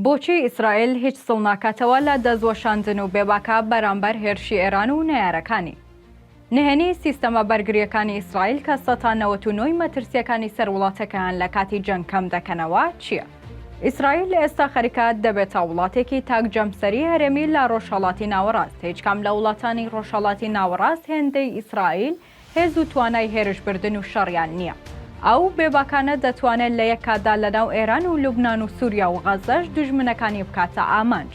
بۆچی ئیسرائیل هیچ سڵ ناکاتەوە لە دەستوەشاندن و بێباکە بەرامبەر هێرشی ئێران و نەیارەکانی؟ نهێنی سیستەمە بەرگرییەکانی ئیسرائیل کە سەتا نەوەت و نۆی مەترسییەکانی سەر وڵاتەکەیان لە کاتی جەنگ کەم دەکەنەوە چییە؟ ئیسرائیل ئێستا خەریکە دەبێتە وڵاتێکی تاک جەمسەری هەرێمی لە ڕۆژهەڵاتی ناوەڕاست، هیچ کام لە وڵاتانی ڕۆژهەڵاتی ناوەڕاست هێندەی ئیسرائیل هێز و توانای هێرش بردن و شەڕیان نییە. ئەو بێباکانە دەتوانێت لە یەک کاتدا لەناو ئێران و لوبنان و سوریا و غەزەش دوژمنەکانی بکاتە ئامانج.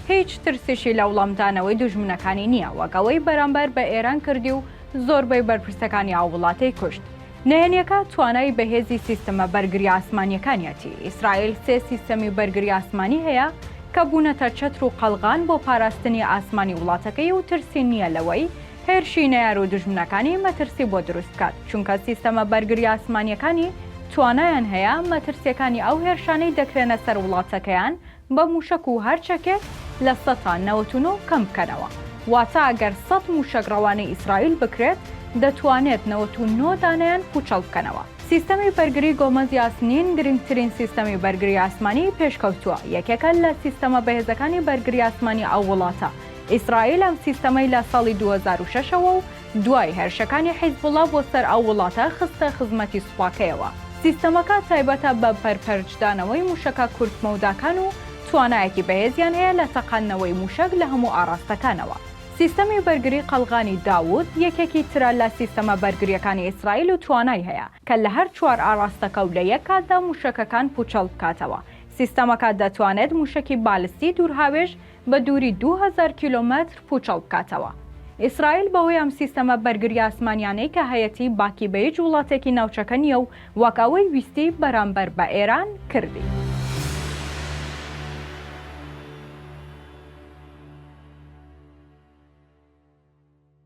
هیچ ترسیشی لە وڵامدانەوەی دوژمنەکانی نییە وەک ئەوەی بەرامبەر بە ئێران کردی و زۆربەی بەرپرسەکانی ئەو وڵاتەی کوشت. نهێنیەکە توانای بەهێزی سیستمە بەرگری ئاسمانیەکانیەتی. ئیسرائیل سێ سیستەمی بەرگری ئاسمانی هەیە کە بوونەتە چەتر و قەڵغان بۆ پاراستنی ئاسمانی وڵاتەکەی و ترسی نییە لەوەی هێرشی نەیار و دوژمنەکانی مەترسی بۆ دروست بکات، چونکە سیستەمە بەرگری ئاسمانییەکانی توانایان هەیە مەترسییەکانی ئەو هێرشانەی دەکرێنە سەر وڵاتەکەیان بە مووشەک و هەر چەکێک لە سەد تا نەوەد و نۆ کەم بکەنەوە، واتە ئەگەر سەد مووشەک ڕەوانەی ئیسرائیل بکرێت دەتوانێت نەوەد و نۆ دانەیان پووچەڵ بکەنەوە. سیستەمی بەرگری گۆمەز یاسنین گرنگترین سیستەمی بەرگری ئاسمانیی پێشکەوتووە، یەکێکە لە سیستەمە بەهێزەکانی بەرگری ئاسمانی ئەو وڵاتە، ئیسرائیل ئەم سیستەمەی لە ساڵی دوو هەزار و شەش ەوە و دوای هێرشەکانی حیزبوڵڵا بۆ سەر ئەو وڵاتە خستە خزمەتی سوپاکەیەوە. سیستەمەکە تایبەتە بە پەرپەرچدانەوەی مووشەکە کورت مەوداکان و توانایەکی بەهێزیان هەیە لە تەقاندنەوەی مووشەک لە هەموو ئاڕاستەکانەوە. سیستەمی بەرگری قەڵغانی داوود یەکێکی ترە لە سیستەمە بەرگرییەکانی ئیسرائیل و توانای هەیە کە لە هەر چوار ئاڕاستەکە و لە یەک کاتدا مووشەکەکان پووچەڵ بکاتەوە. سیستەمەکە دەتوانێت مووشەکی بالستی دوورهاوێژ بە دووری دوو هەزار کیلۆمەتر پووچەڵ بکاتەوە. ئیسرائیل بەهۆی ئەم سیستەمە بەرگری ئاسمانیانەی کە هەیەتی باکی بە هیچ وڵاتێکی ناوچەکە نییە و وەک ئەوەی ویستی بەرامبەر بە ئێران کردی.